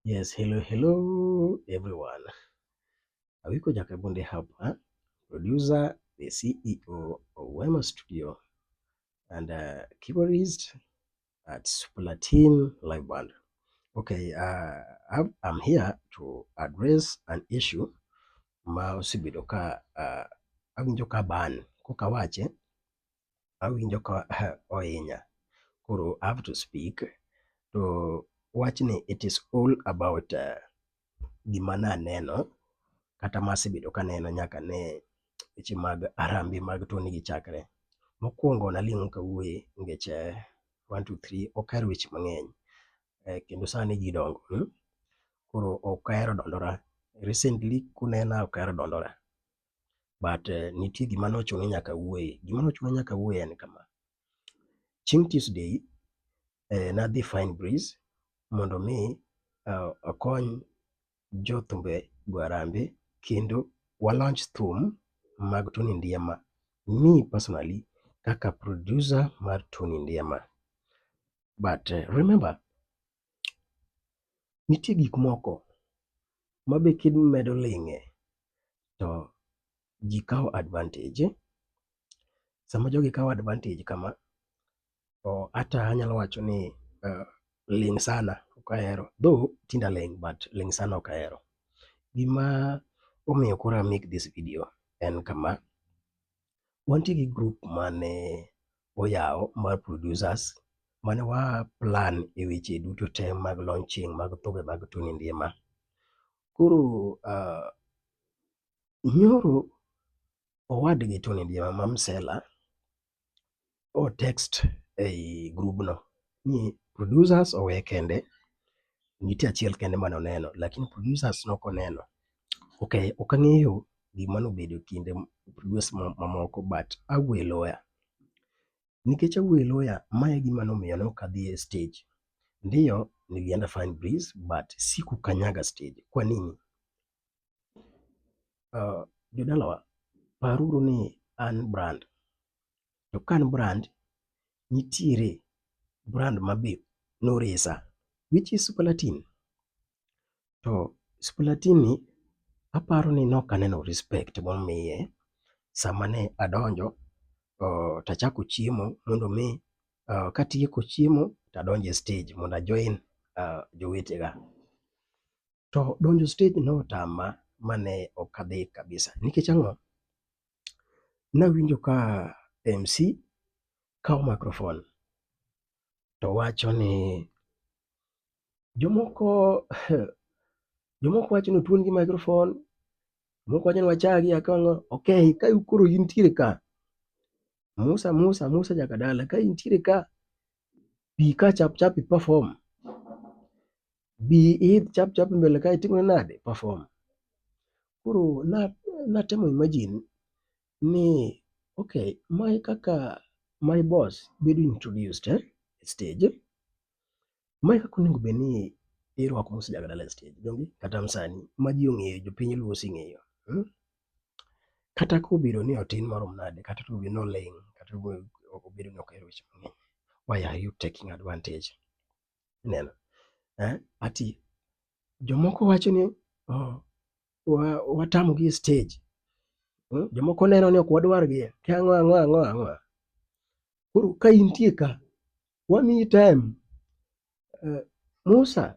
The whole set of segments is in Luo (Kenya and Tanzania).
Yes, hello hello everyone. Awiko Jakabunde hapa, producer, the CEO of Wema Studio and uh, keyboardist at Supla Team Live Band. Okay, uh, I'm, I'm here to address an issue ma osebedo ka uh, awinjo ka ban koka wache awinjo ka ohinya koro I have to speak to wachni it is all about uh, gima naneno kata masebedo kaneno nyaka ne weche mag arambe mag toni gi chakre. Mokwongo naling'o kawuoye nikech eh, one two three ok ahero weche mang'eny eh, kendo sani ji dongo hmm? koro ok ahero dondora recently kunena ok ahero dondora but nitie gima ne ochuno ni nyaka awuoye. Gima ne ochuno ni nyaka awuoye en kama, chieng' Tuesday ne adhi Fine Breeze mondo mi akony jo thumbe go harambee kendo wa launch thum mag Tony Ndiema. Me personally kaka producer mar Tony Ndiema. But remember Nitie gik moko ma be kimedo ling'e to ji kawo advantage. Sama jogi kawo advantage kama to ata anyalo wacho ni ling' sana ok ahero though tinde aling' but ling' sana ok ahero. Gima omiyo koro a make this video en kama, wantie gi group mane oyaw mar producers mane wa plan e weche duto te mag launching mag thumbe mag Tony Ndiema. Koro uh, nyoro owadgi Tony Ndiema ma Msela o text ei grubno ni producers owe kende, nitie achiel kende mane oneno lakini producers ne ok oneno. Ok ang'eyo gima ne obedo e kind producers mamoko but awuo e loya. Nikech awuo e loya, ma e gima ne omiyo ne ok adhi e stage. Ndio nilienda fine breeze but sikukanyaga stage. Kwa nini? Uh, jodalawa, paruru ni an brand To ka an brand, nitiere brand ma be noresa which is Superlatin. To Superlatin ni aparo ni ne ok aneno respect momiye sama ne adonjo to achako chiemo mondo mi katieko chiemo to adonjo e stage mondo a join jowetega. To donjo e stage ne otama mane ok adhi kabisa nikech ang'o? Nawinjo ka MC kawo microphone to wacho ni jomoko jomoko wacho ni otuon gi microphone, jomoko wacho ni wachagi akong'o. Ok, ka koro intiere ka, Musa Musa, Musa Jakadala ka intiere ka, bi ka chap chap i perform. bi iidh chap chap mbele ka itimri nade? Perform. Koro natemo imagine ni okay, ma e kaka my boss bedo introduced eh, e stage. Ma e kaka onego bed ni irwako mosejag dala e stage donge kata msani ma ji ong'eyo, jopiny luo oseng'eyo. Hmm? Kata kobedo ni otin marom nade, kata kobedo ni oling', kata kobedo ni ok ohero weche mang'eny, why are you taking advantage? Ineno? Eh? Ati jomoko wacho ni oh, watamogi e stage. Hmm? Jomoko neno ni ok wadwargi. Ki ang'o ang'o ang'o ang'o. Koro ka intie ka, wamiyi time. Eh, Musa,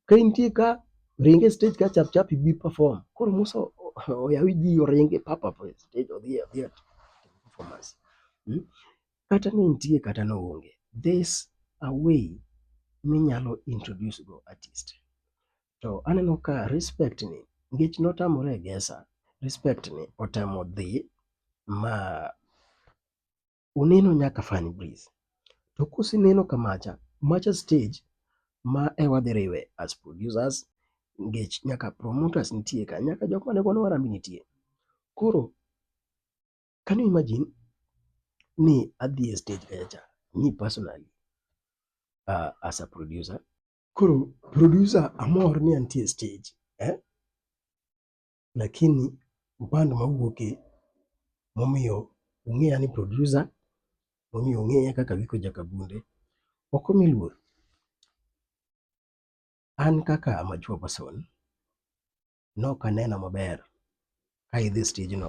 ka intie ka, ringe e stage ka chap chap ibi perform. Koro Musa oyawi ji oringe papa e stage odhi odhi performance. Hmm? kata ni nitie kata ni oonge, there's a way minyalo introduce go artist. To aneno ka respect ni nikech notamore e gesa, respect ni otemo dhi ma oneno nyaka Fani Breeze. To koseneno ka macha, macha stage ma e wadhi riwe as producers nikech nyaka promoters nitie ka, nyaka jok mane gono harambee nitie. Koro Can you imagine ni adhi e stage kacha cha, me personally uh, as a producer. Koro producer amor ni antie stage eh? Lakini upande mawuoke momiyo ung'eya ni producer, momiyo ung'eya kaka Giko Jakabunde, ok omi luor. An kaka mature person, Nok aneno maber ka idhi e stijno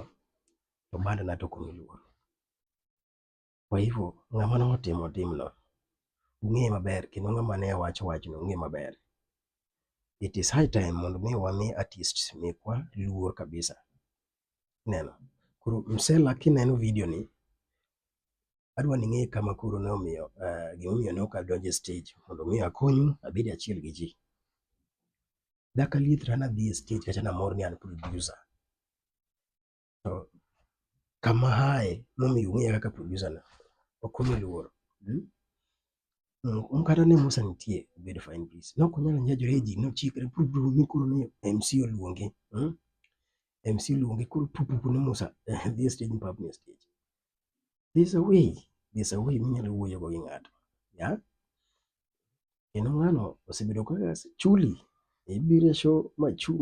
to badena to ok omi luor. Kwa hivyo, ng'ama ne otimo timno ung'eye maber kendo ng'ama ne owacho wachno ung'eye maber. It is high time mondo mi wami artist mekwa luor kabisa. Ineno? Koro Msela kineno video ni, adwa ni ing'e kama koro ne omiyo eh, gimomiyo ne ok adonjo e stage mondo mi akonyu abed achiel gi ji. Daka liet to an adhi e stage kacha namor ni an producer. To kama aye momiyo ung'eya kaka producer na ok omi luor. Mm? Mm, kata ne Musa nitie obedo fine peace. Nok onyalo nyajore e ji nochikre pur pur ni koro ni MC oluonge. Mm? MC oluonge koro pur pur ni Musa eh, dhi e stage ni pap ni e stage. There's a way, there's a way minyalo wuoyo go gi ng'ato. Yeah? Kendo ng'ano osebedo ka chuli, ibiro e show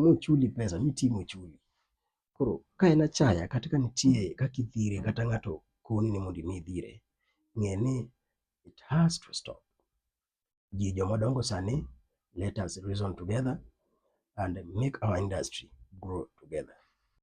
mochuli pesa mitii mochuli. Koro ka en achaya kata ka nitie kaka idhire kata ng'ato koni ni mondo imi idhire, ng'e ni it has to stop. Ji joma dongo sani, let us reason together and make our industry grow together.